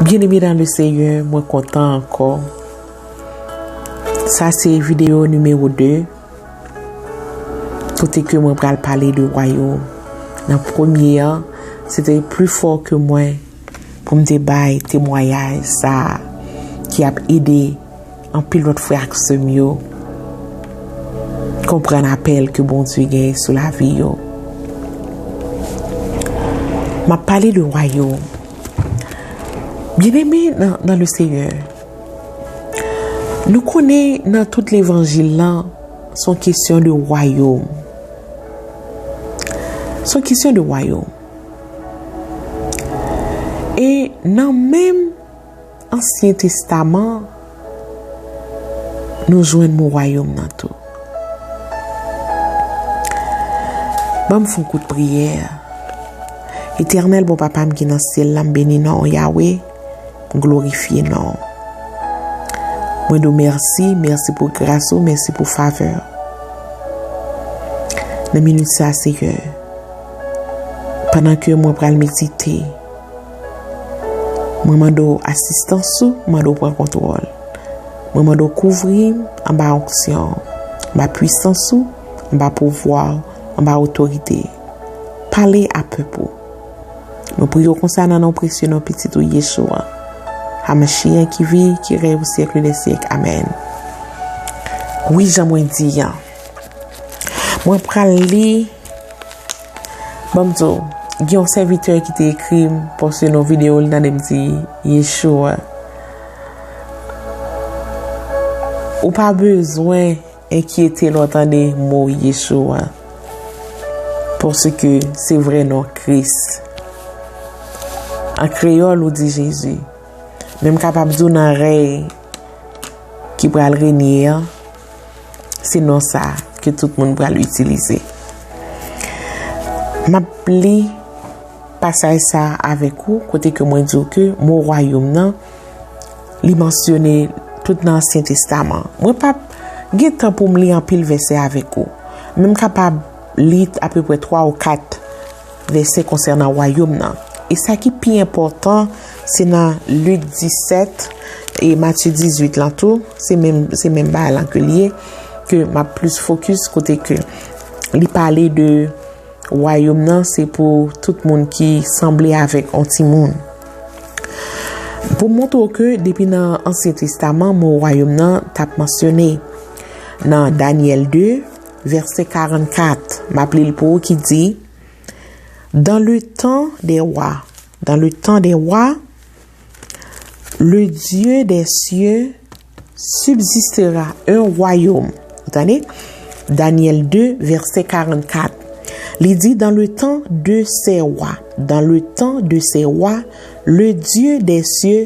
Bien aimé dans le seigneur mwen kontan ankò sa se video numero 2 kote ke mwen pral pale de wayom nan premye an se te pli fò ke mwen pou m te bay temwayaj sa ki ap ede Anpil lòt frè ak sè m yo konprann apèl ke Bondye gen sou lavi yo. M ap pale de wayòm. Byeneme nan le Seyè, nou konnen nan tout levanjil la, s on kesyon de wayòm. S on kesyon de wayòm. E nan menm. Ansyen Testaman an, nou jwenn mo wayòm nan tou. Ban m fè yon kout priyè. Etènèl bon Papa m ki nan syèl la, m beni non w, Yawe, m glorifye non w. Mwen di w mèsi, mèsi pou gras ou, mèsi pou favè w. Nan minit sa, Seyè, pandan ke mwen pral medite, Mwen mande w asistans ou, mwen mande w pran kontwòl. Mwen mande w kouvri m anba onksyon w, anba pwisans ou, anba pouvwa w, anba otorite. Pale a pèp ou. Mwen priye w konsa nan non presye non Pitit ou Yeshua HaMashiach ki viv, ki rèy pou syèkle dè syèk. Amèn. Wi, jan mwen di an, mwen pral li. Banm di w, gen yon sèvitè ki te ekri m, poste yon videyo li tande m di, Yeshua, ou pa bezwen enkyete lè w tande mo Yeshua, paske se vrè non Kris. An kreyòl ou di Jezi, men m kapab di w nan rèy ki pral renye an, Se non sa ke tout moun pral itilize. M ap li pasaj sa avèk ou kote ke mwen di ou ke mo wayom nan li mansyone tout nan Ansyen Testaman. Mwen pa ap gen tan pou m li anpil vèsè avèk ou. Men m kapab li apeprè 3 ou 4. Vèsè konsènan Wayòm nan. E sa ki pi enpòtan, se nan Lik 17 e Matye 18 lan tou, se menm se menm bagay lan ke l ye, ke m ap plis fokis kote ke li pale de Wayòm nan se pou tout moun ki sanble avèk yon timoun. Pou montre w ke depi nan Ansyen Testaman mo Wayòm nan t ap mansyone nan Dànyèl 2. Vèsè 44, m ap li l pou ou, ki di, Dan le tan dè wa, dan le tan dè wa, le Dye dè sye sibzistera en wayom. Ou tande? Danièl 2, vèsè 44. Li di, Dan le tan de sè wa, dan le tan de sè wa, le Dye dè sye.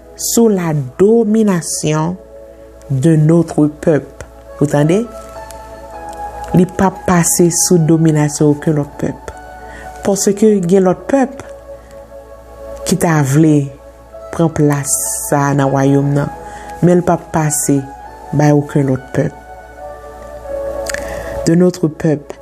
sou la dominasyon de notre pèp, ou tande, li pa p pase sou dominasyon oken lòt pèp, paske gen lòt pèp ki ta vle pran plas sa a nan Wayòm nan, men l pa p pase bay oken lòt pèp. De notre pèp.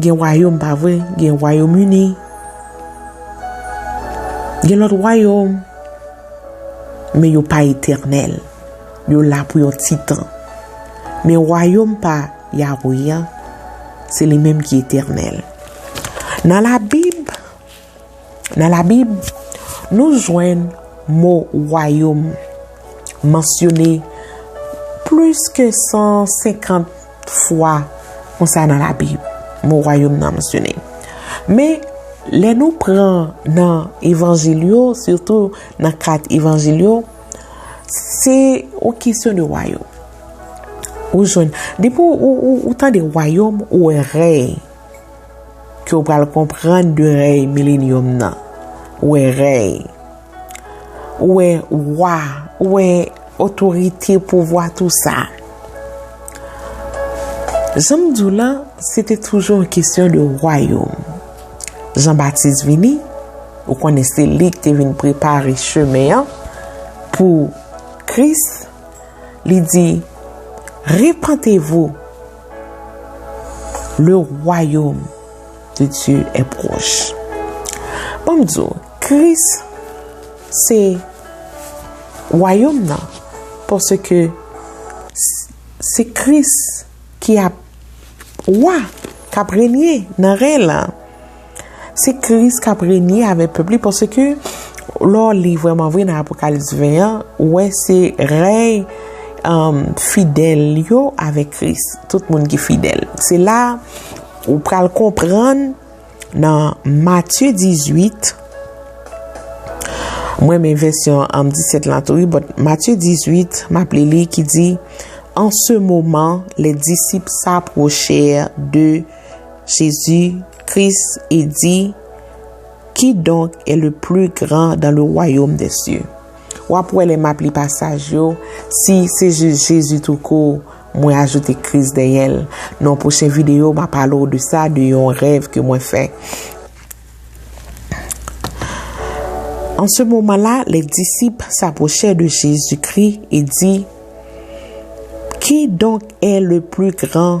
Gen wayom pa vre gen wayom uni gen lot wayom men yo pa eternel yo la pou yon ti tan men wayom pa Yahweh an se li menm ki eternel nan la bib Nan Labib, nou jwenn mo wayòm mansyone plis ke 150 fwa konsa nan Labib. Mo wayòm nan mansyone. Men, lè nou pran nan Evanjil yo, sitou nan kat Evanjil yo, se yon kesyon de wayòm. Ou jwenn, depi ou tande wayòm, ou wè rèy. ke w pral konprann de rèy milenyòm nan. Ou wè rèy. Ou wè wa. Ou wè otorite, pouvwa, tou sa. Jan m di w lan, se te toujou yon kesyon de wayòm. Jan Batis vini, ou konnen se li ki te vin prepare chemen an pou Kris, li di, Repantevou. Le royaume de Dieu est proche. Bon m di w, Kris se wayòm nan, paske se Kris ki ap wa, k ap renye nan ren lan. Se Kris k ap renye avèk pèp li paske lè w li vrèman vre nan Apokalips 20 an, ou wè se rèy fidèl yo avèk Kris, tout moun ki fidèl. Se la ou pral konprann nan Matye 18, m renmen vèsyon 17 lan tou wi, bòt Matye 18, m ap li li ki di, An se moman, lè disip sa pwochè de. Jezi, Kris, e di, Ki donk e le pli gran dan le wayom de sye. W ap wè lè m ap li pasaj yo, si se jis Jezi tou kou, mwen ajoute Kris dèyè l. Nan pwochen videyo m a pale w de sa, de yon rèv ke mwen fè. An se moman la, le disip s'apwochè de Jezi Kri e di, Ki donk e le pli gran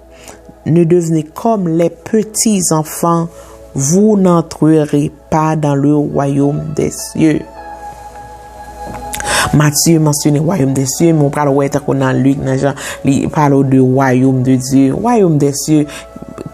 Ne devenez comme les petits enfants, vous n'entrerez pas dans le royaume des cieux. Matye mansyone wayom desye, moun pral wè tako nan lik nan jan li palo de wayom de Dye. Wayom desye,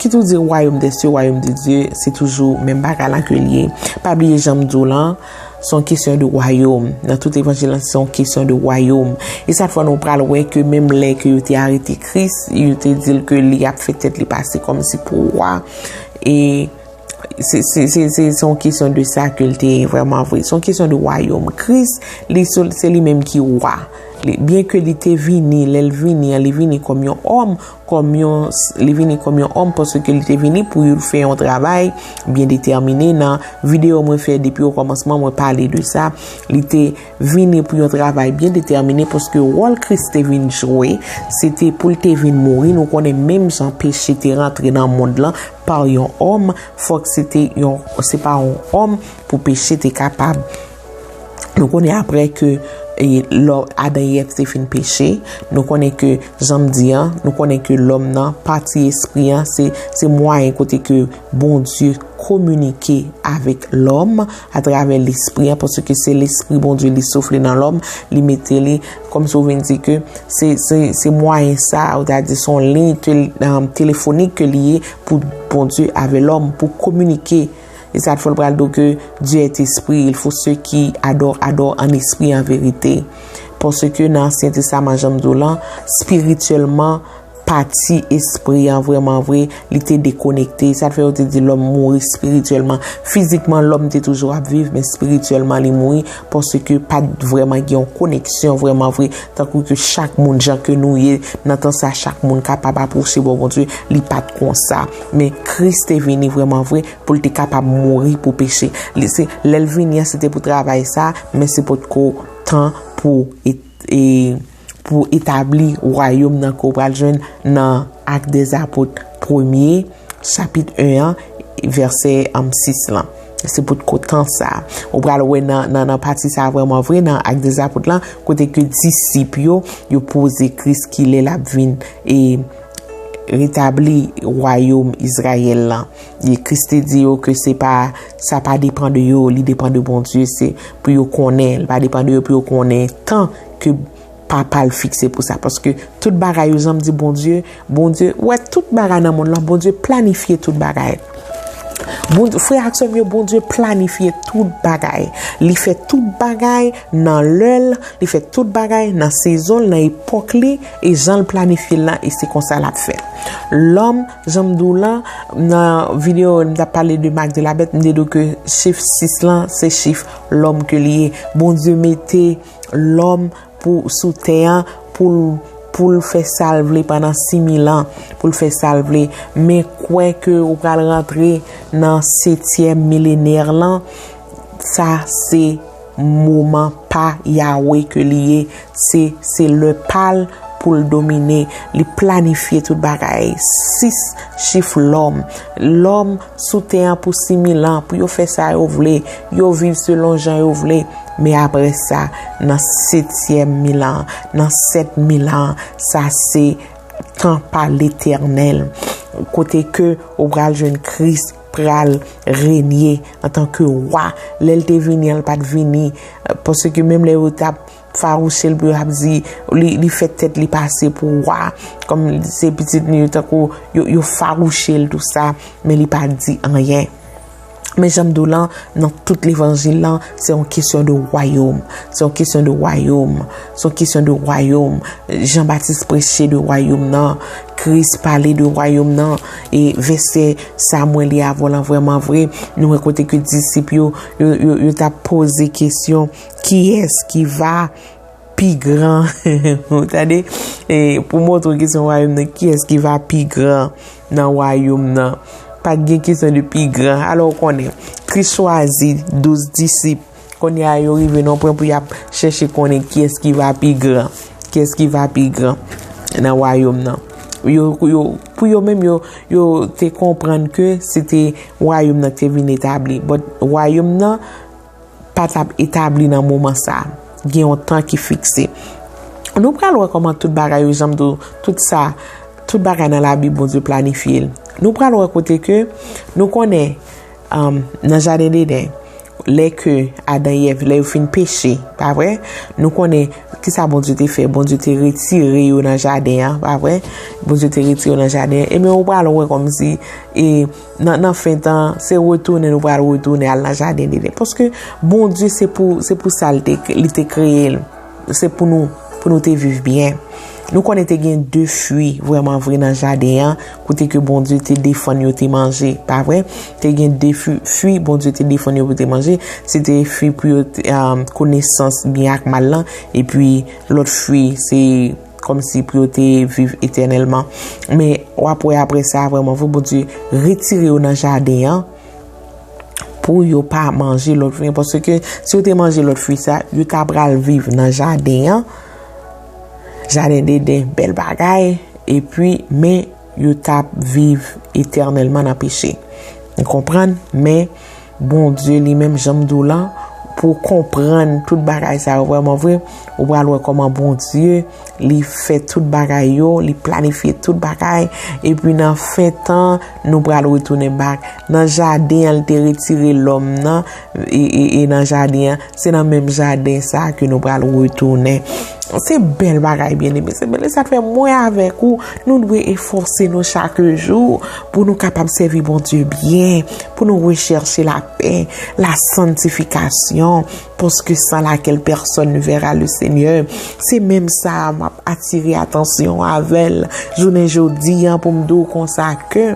ki tou di wayom desye, wayom de Dye, se toujou men baka lan ke liye. Pa bliye janm djou lan, Se yon kesyon de wayom. Nan tout evanjil lan, se yon kesyon de wayom. E sa fwa nou pral wè ke menm lè ke yo te arete Kris, yo te dil ke li ap fè tèt li pase kòm si pou wa. E se yon kesyon de sa ke li te vreman vre. Se yon kesyon de wayom. Kris, se li menm ki wa. Byen ke li te vini, lè li vini, li vini kòm yon òm. kòm yon, li vini kòm yon òm paske ke li te vini pou youl fè yon travay byen detèmine nan videyo mwen fè depi o kòmansman mwen pale de sa li te vini pou yon travay byen detèmine paske wòl kris te vin jwe se te poul te vin mouri nou konnen menm jan peche te rantre nan mond lan pa yon òm fòk se te yon se pa yon òm pou peche te kapab. Nou konnen apre ke lò Adan e Èv te fin peche, nou konnen ke jan m di an, nou konnen ke lòm nan, pati espri an, se mwayen kote ke Bondye kominike avèk lòm atravè lespri an, paske se lespri Bondye li soufle nan lòm, li mete li, kòm si ou vin di ke se mwayen sa, ou ta di son liy telefonik ke li ye pou Bondye avè lòm, pou kominike. E sa t fè l pral do ke Dye èt espri, il fo se ki adò adò an espri e an verite. Paske nan Ansyen Testaman jan m di w lan, spirityèlman pati espri an vrèman vre li te dekonekte. E sa t fè yo te di lòm mouri spirityèlman. Fizikman lòm te toujou ap viv men spirityèlman li mouri paske pa t vrèman gen yon koneksyon vrèman vre tankou ke chak moun jan ke nou ye nan tan sa chak moun kapab apwoche bò Bondye li pa t konsa. Men Kris te vini vreman vre pou l te kapab mouri pou peche. Li se lè l vini an se te pou travay sa, men se potko tan pou pou etabli wayom nan ke w pral jwenn nan Actes des Apôtres premye chapit 1 an vèsè 6 lan. Se potko tan sa. Ou pral wè nan nan nan pati sa vreman vre nan Actes des Apôtres lan kote ke disip yo yo poze Kris kilè l ap vin e Retabli wayoum Izrayèl la. E Kris te di yo ke se pa, sa pa depan de yo, li depan de Bondye, se pou yo konnen, li pa depan de yo pou yo konnen tan ke Papa l fikse pou sa. Paske tout bagay yo, jan m di Bondye, Bondye, ou wè tout bagay nan monn lan, Bondye planifye tout bagay. Bondye, frè ak sè m yo, Bondye planifye tout bagay. Li fè tout bagay nan lè l, li fè tout bagay nan sezon l, nan epòk li. E jan l planifye l lan e se konsa l ap fèt. Lòm, jan m di w lan, nan videyo m ta pale de mak de la bèt, m te di w ke chif 6 lan se chif lòm ke li ye. Bondye mete lòm pou sou tè an pou l pou l fè sa l vle pandan 6000 an, pou l fè sa l vle. Men kwè ke ou pral rantre nan setyèm milenè lan, sa se. Moman pa Yahweh ke li ye, se se lè pa l pou l domine, li planifye tout bagay, 6 chif lòm, lòm sou tè an pou 6000 an pou yo fè sa yo vle, yo viv selon jan yo vle, men aprè sa nan setyèm mil an, nan 7000 an, sa se tan pa Letènèl, kote ke ou pral jwenn Kris. pral renye antan ke wa, lè l te vini an l pa t vini, pase ke menm lè yo t ap farouche l pou yo ap di li fè tèt li pase pou wa, kòm se pitit li yo tankou yo farouche l tou sa, men li pa di anyen. Men jan m di w lan, nan tout levanjil lan, se yon kesyon de wayom, se yon kesyon de wayom, se yon kesyon de wayom, Jan Batis preche de wayom nan, Kris pale de wayom nan, E vèsè sa mwen li avè w lan vrèman vre, nou wè kote ke disip yo, yo ta pose kesyon, kiyès ki va pi gran, ou tande, pou montre ki se yon wayoum nan, kiyès ki va pi gran nan wayoum nan, pa gen kesyon de pi gran, alò w konnen, Kris chwazi douz disip. Kounye a yo rive nan pwen pou y ap chèche konnen kiyès ki va pi gran. Kiyès ki va pi gran nan wayòm nan. Pou yo menm yo te konprann ke se te wayòm nan te vin etabli. But wayòm nan pa t ap etabli nan moman sa. Gen yon tan ki fikse. Nou pral wè kòman tout bagay yo janm do tout sa. Tout bagay nan labib Bondye planifye l. Nou pral wè kote ke nou konnen. Nan jaden Deden, lè ke Adan e Èv, lè yo fin peche, pa vre? Nou konnen ki sa Bondye te fè? Bondye te retire yo nan jaden an, pa vre? Bondye te retire yo nan jaden an. Ebyen, ou pral wè kòm si, e, nan fen tan, se retounen nou pral retounen al nan jaden Deden. Paske Bondye se pou, se pou sa li te kreye l. se pou nou, pou nou te viv byen. Nou konnen te gen de fwi vreman vre nan jaden an, kote ke Bondye te defann yo te manje, pa vre? Te gen de fwi Bondye te defann yo pou te manje, se te fwi pou yo te euh, konesans byen ak mal lan, e pi lòt fwi se kòm si pou yo te viv etènèlman. Men, w ap wè apre sa, vreman vre, Bondye retire yo nan jaden an, pou yo pa manje lòt fwi. Pòsè ke si yo te manje lòt fwi sa, yo ta pral viv nan jaden an. Jaden de den, bel bagay. E pwi, men, yo ta viv eternèlman nan peche. Yon konpran, men, bon Diyo li menm janm dou lan, pou konpran tout bagay sa yo vwèman vwè, ou pral wè kòman bon Diyo. Li fè tout bagay yo, li planifye tout bagay, epi nan fen tan, nou pral retounen bak. Nan jaden an, li te retire lòm nan, e nan jaden an, se nan menm jaden sa ke nou pral retounen. Se bèl bagay, byen eme. Se bèl, e sa te fè mwen avèk ou, nou dwe efòse nou chak jou, pou nou kapab sèvi Bondye byen, pou nou rechèche lapè, la santifikasyon. Paske sans laquelle personne ne verra le Seigneur, se menm sa a map atire atansyon w avè l jounen jodi an pou m di w konsa ke,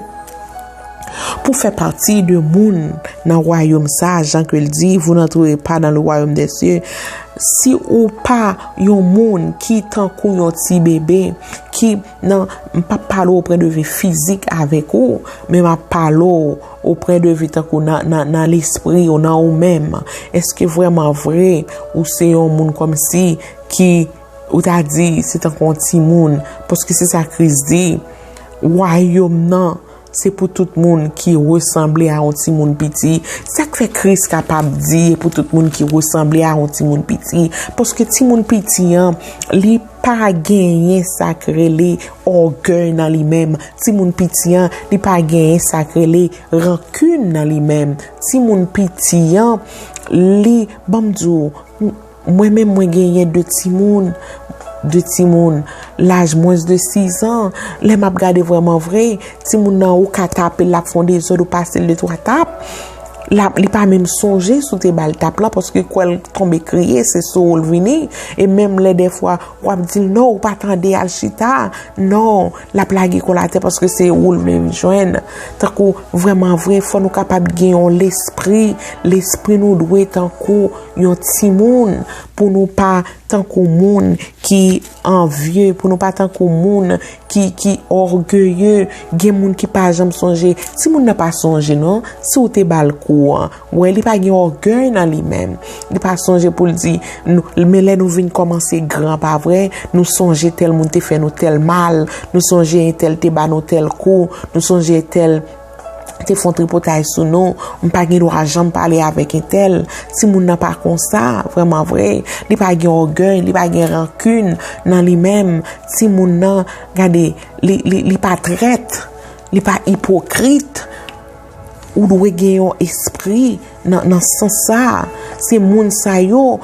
pou fè pati de moun nan wayom sa a jan ke l di, vous n'entrerez pas dans le royaume des cieux, si ou pa yon moun ki tankou yon ti bebe, ki. Nan, m pap pale ou pwen de vi fizik avèk ou, men m ap pale ou ou pwen de vi tankou nan lespri ou, nan ou menm. Eske vrèman vre ou se yon moun kòm si ki ou ta di se tankou yon timoun? Paske se sa Kris di, Wayòm nan. Se pou tout moun ki resanble a yon timoun piti. Sa k fè Kris kapab di e pou tout moun ki resanble a yon timoun piti? Paske timoun piti an, li pa genyen sa k rele ògèy nan li menm. Timoun piti an, li pa genyen sa k rele rankin nan li menm. Timoun piti an, li, ban m di w, Mwen menm mwen genyen 2 timoun, 2 timoun laj mwens de 6 an, lè map gade vreman vre, timoun nan ou ka tape l lap fon dezòd ou pase l 2 twa tap, lap li pa menm sonje sou te bal tap la paske kwè l tonbe kriye se sou ou l vini, e menm lè dèfwa wap di l non ou pa tande al chita, non lap lage kò l atè paske se ou l vle vin jwenn. Tankou vreman vre fò nou kapab gen yon lespri, lespri nou dwe tankou. yon ti moun, pou nou pa tankou moun ki anvye, pou nou pa tankou moun ki orgeye, gen moun ki pa janm sonje, ti moun nan pa sonje non, si ou te bal kou an, wè li pa gen orgeye nan li men, li pa sonje pou li di, men lè nou vin komanse gran pa vre, nou sonje tel moun te fè nou tel mal, nou sonje tel te ba nou tel kou, nou sonje tel. te fon tripotay sou nou, m pa gen dwa janm pale avèk entèl, ti moun nan pa konsa, vreman vre, li pa gen ogèy, li pa gen rankun nan li menm, ti moun nan, gade, li pa trèt, li pa ipokrit, ou dwe gen yon espri nan san sa, se moun sa yo,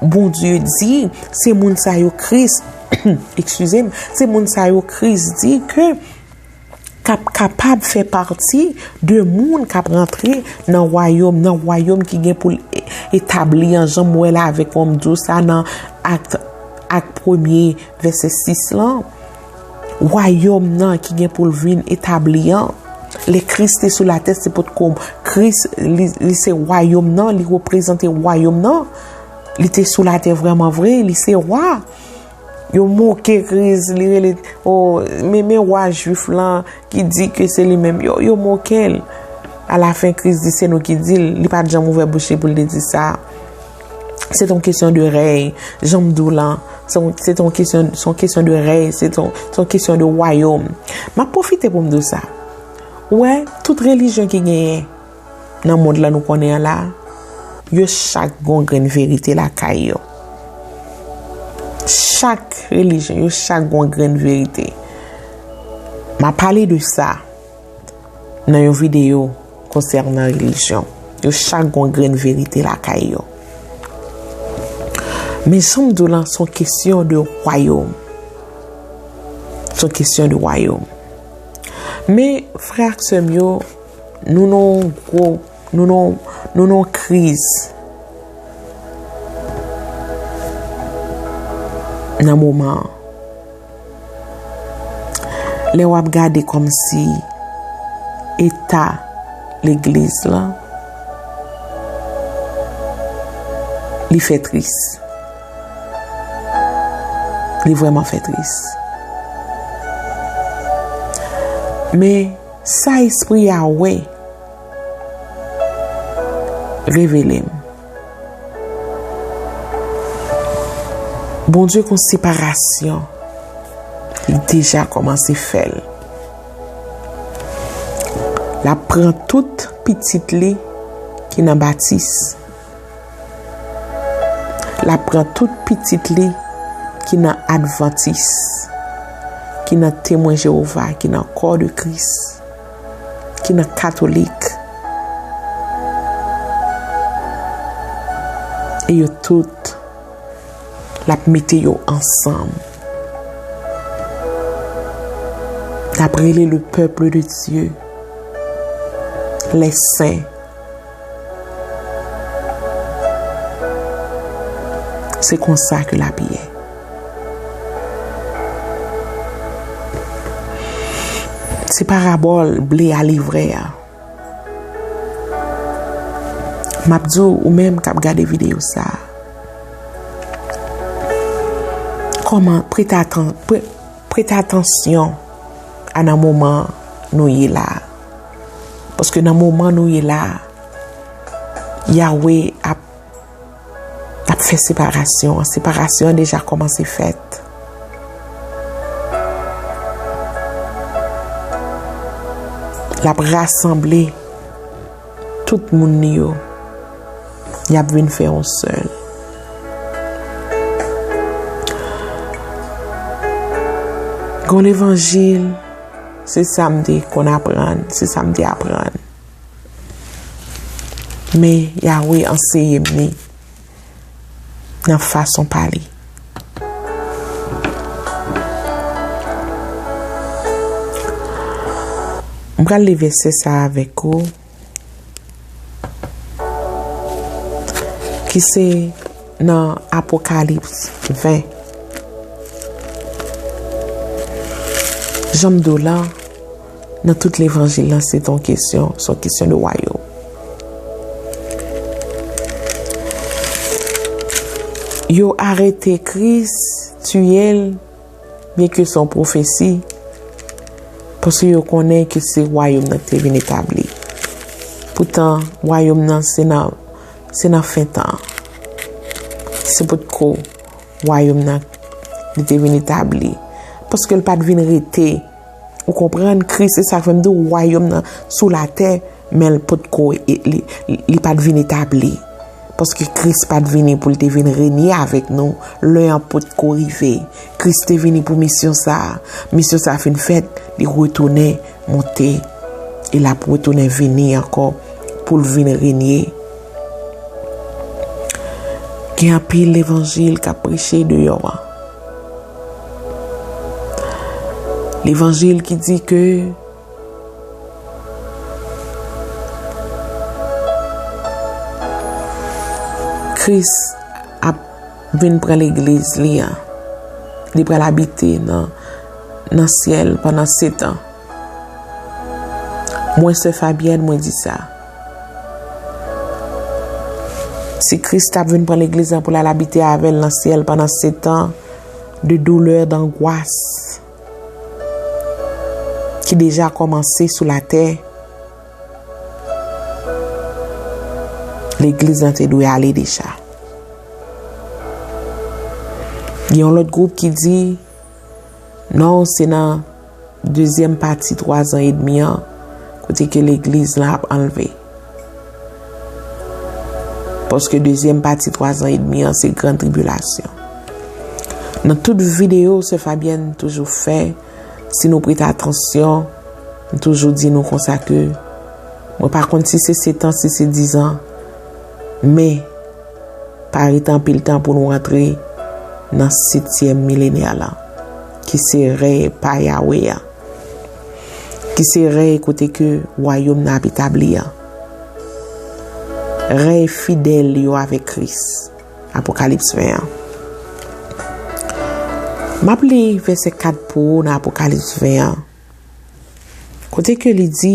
bon Dieu di, se moun sa yo kris, eksuze m, se moun sa yo kris di ke, k ap kapab fè pati de moun k ap rantre nan wayòm, nan wayòm ki gen pou l etabli an, jan m wè la avèk ou, m di w sa nan Ak premye vèsè 6 lan, wayòm nan ki gen pou l vin etabli an, lè Kris te sou latè se pot ko Kris li se wayòm nan, li reprezante wayòm nan, li te sou latè vrèman vre, li se wa. Yo moke kriz li rele oh men men wa jwif lan ki di ke se li menm yo yo mokel. A la fen kriz di se nou ki dil li pat janm ouvè bouch li pou l te di sa. Se ton kesyon de rèy, janm dou lan, se ton kesyon son kesyon de rèy, se ton son kesyon de wayom. Ma pwofite pou m dou sa. Ou wè tout relijyon ki genyen. nan mond la nou konnen an la, yo chak gen yon grenn verite lakay yo. Chak relijyon, yo chak gen yon grenn verite. M ap pale de sa nan yon videyo konsènan relijyon. Yo chak gen yon grenn verite lakay yo. Men jan m di w lan, se yon kesyon de wayòm. Se yon kesyon de wayòm. Men frè ak sè m yo, Nou nan yon gwo, nou nan yon, nou nan yon kriz. Nan moman an. Lè w ap gade kòm si eta legliz la, li fè tris. Li vwèman fè tris. Men. Sa espri a wè. Revele m. Bondye kon separasyon. Li deja komanse fè l. Lap pran tout pitit li ki nan batis. L ap pran tout pitit li ki nan advantis, ki nan temwen Jewova, ki nan kò de Kris, ki nan katolik, e yo tout, l ap mete yo ansanm. L ap rele le pèp de Dye, lè sen. Se konsa ke lapi ye. Se parabòl ble a livre a. M ap di w, ou menm k ap gade videyo sa a, kòman, prete atan, prete atansyon a nan moman nou ye la a. Paske nan moman nou ye la, Yahweh ap ap fè separasyon. Separasyon an deja kòmanse fèt. L ap rasanble tout moun li yo. Y ap vin fè yon sèl. Gon levanjil. Se sa m te konn aprann, se sa m te aprann. Men, Yahweh anseye m li nan fason pa li. M pral li vèsè sa a avèk ou. Ki se nan Apokalips 20. Janm do la, nan tout levanjil la, se ton kesyon, son kesyon de wayo. Yo arete kris, tiyel. Byenke se yon pwofesi, paske yo konnen ke se Wayòm nan ki te vin etabli. Poutan, Wayòm nan se nan fen tan an. Se potko Wayòm nan li te vin etabli. Paske li pa t vin rete. Ou konprann, Kris, se sa k fè m di w wayòm nan sou latè, men l potko, li pa t vin etabli. Paske Kris pa t vini pou l te vin renye avèk nou, lè an potko rive. Kris te vini pou misyon sa a, misyon sa a fin fèt, li retounen monte, e l ap retounen vini ankò pou l vin renye. Gen anpil levanjil k ap preche deyò an. Levanjil ki di ke Kris ap vin pran legliz li an, li pral abite nan syèl pandan setan. Mwen sè Fabyèn mwen di sa. Si Kris ta vin pran Legliz lan pou l al abite avè l nan syèl pandan setan de doulè, dangwas ki deja kòmanse sou latè, Legliz lan te dwe ale deja. Gen yon lòt gwoup ki di, Non, se nan. Dezyèm pati twazan edmi an kote ke legliz lan ap anlve. Paske dezyèm pati twazan edmi an se gran tribilasyon. Nan tout videyo se Fabyèn toujou fè, si nou prete atansyon, m toujou di nou konsa ke mwen pa konn si se setan si se dizan. Men, pa rete anpil tan pou nou antre nan setyèm milenia la, ki se rèy pa Yawe a, ki se rèy kote ke wayom nan ap etabli a. Rèy fidèl yo avèk Kris. Apokalips 20 an. M ap li vèsè 4 pou ou nan Apokalips 20 an, kote ke li di,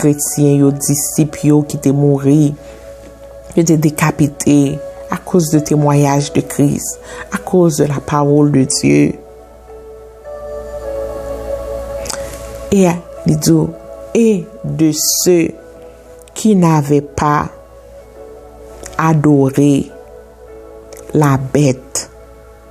kretyen yo, disip yo ki te mouri, yo te dekapite akoz de temwayaj de Kris, akoz de la pawol de Dye. E li di yo, e de se ki nave pa adore la bèt.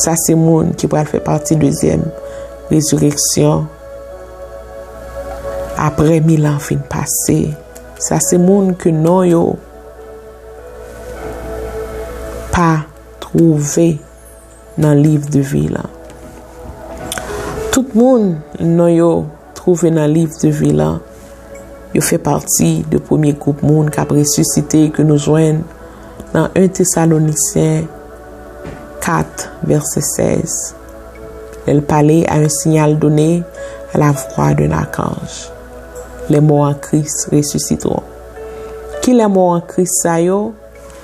Sa se moun ki pral fè pati dezyèm rezireksyon apre mil an fin pase. Sa se moun ke non yo pa twouve nan liv de vi lan. Tout moun non yo Twouve nan liv de vi lan, yo fè pati de premye gwoup moun k ap resisite ke nou jwenn nan 1 Tesalonisyen 4, vèsè 16, lè l pale a un signal donné à la voix d'un archange, Les morts en Christ ressusciteront. Kilè mò an Kris sa yo?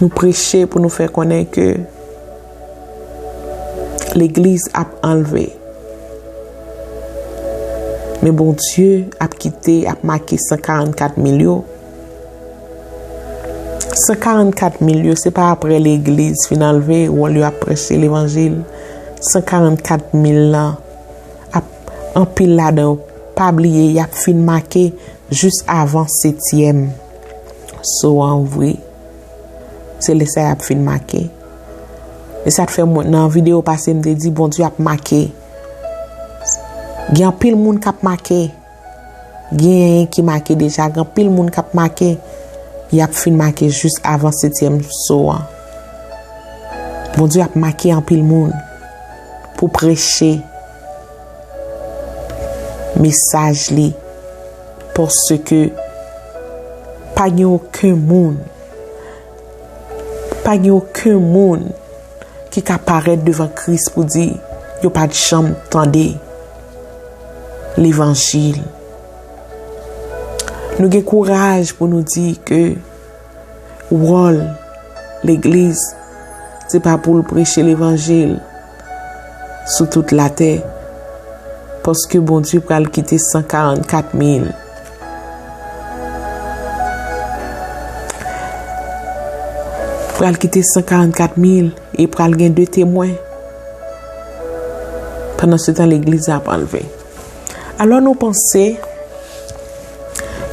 Nou preche pou nou fè konnen ke legliz ap anlve. Men Bondye ap kite, ap make 144 mil yo. 144 mil yo se pa apre legliz fin anlve wòl yo ap preche levanjil. 144 mil lan ap anpil ladan yo pa bliye yap fin make Jis avan setyèm so a ouvri, se lè sa y ap fin make. E sa k fè mwen, nan videyo pase m te di Bondye ap make. Gen anpil moun k ap make. Genyen ki make deja, gen anpil moun k ap make. Y ap fin make jis avan setyèm so a. Bondye ap make anpil moun pou preche. mesaj li paske pa gen oken moun pa gen oken moun ki ka parèt devan kris pou di yo pat janm tande levanjil nou gen kouraj pou nou di ke Wòl legliz se pa pou l preche levanjil sou tout latè paske Bondye pral kite 144 mil pral kite 144 mil e pral gen 2 temwen pandan se tan legliz ap anlve alò nou panse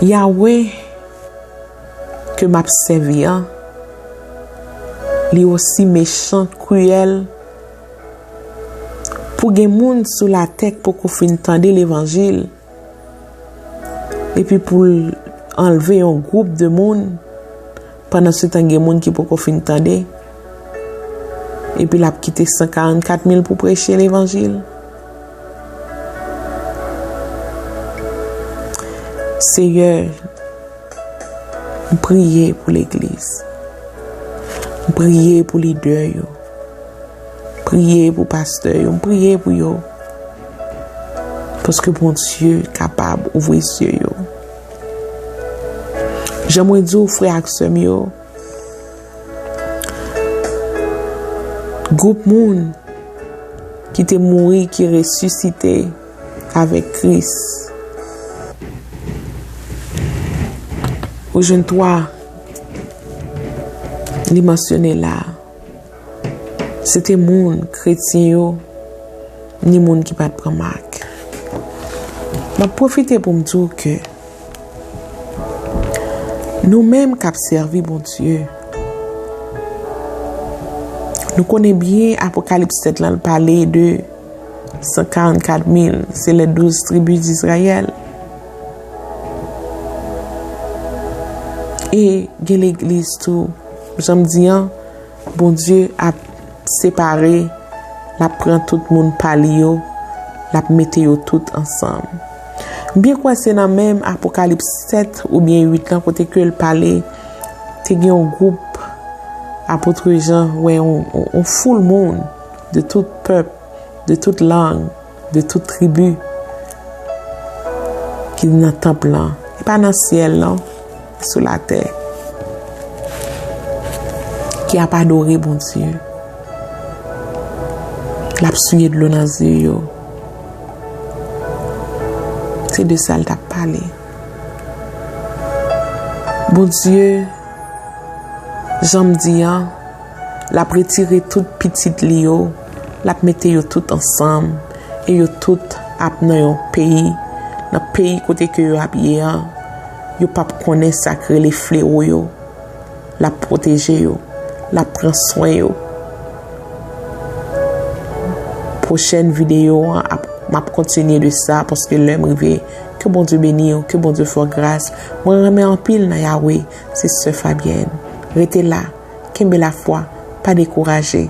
Yahweh ke m ap sèvi an, li osi mechan, kriyèl, pou gen moun sou latè k poko fin tande levanjil, epi pou l anlve yon gwoup de moun, pandansetan gen moun ki poko fin tande, epi l ap kite 144 mil pou preche levanjil? Seyè! M priye pou legliz. M priye pou lidè yo. M priye pou pastè yo. M priye pou yo. Paske Bondye kapab ouvri zye yo. Jan mwen di ou frè ak sè m yo. Gwoup moun ki te mouri ki resisite. avèk Kris. Ou jwenn twa li mansyone la a. Se te moun kretyen yo, ni moun ki pa t pran mak. M ap pwofite pou m di w ke nou menm k ap sèvi Bondye, nou konnen byen Apokalips 7 lan pale de. 144 mil, se lè douz tribi d'Izrayèl. E gen legliz tou, jan m di an, Bondye ap separe, l ap pran tout moun pa li yo, l ap mete yo tout ansanm. M byen kwè se nan menm Apokalips 7 oubyen 8 lan kote ke l pale, te gen yon gwoup, Apotre Jan wè yon foul moun, De tout pèp, de tout lang, de tout tribi ki nan tanp lan. Li pa nan syèl non, li sou latè. Ki ap adore Bondye. L ap souye dlo nan zye yo. Se de sa l t ap pale. Bondye, jan m di an, L ap retire tout pitit li yo, l ap mete yo tout ansanm, e yo tout ap nan yon peyi, nan peyi kote ke yo ap ye an, yo p ap konnen sa k rele flewo yo. L ap pwoteje yo, l ap pran swen yo. Pwochèn videyo an ap, m ap kontinye de sa, paske lè m rive. Ke Bondye beni w, ke Bondye fè w gras. Mwen renmen anpil nan Yahweh, se sè Fabienne. Rete la! Kenbe lafwa, pa dekouraje.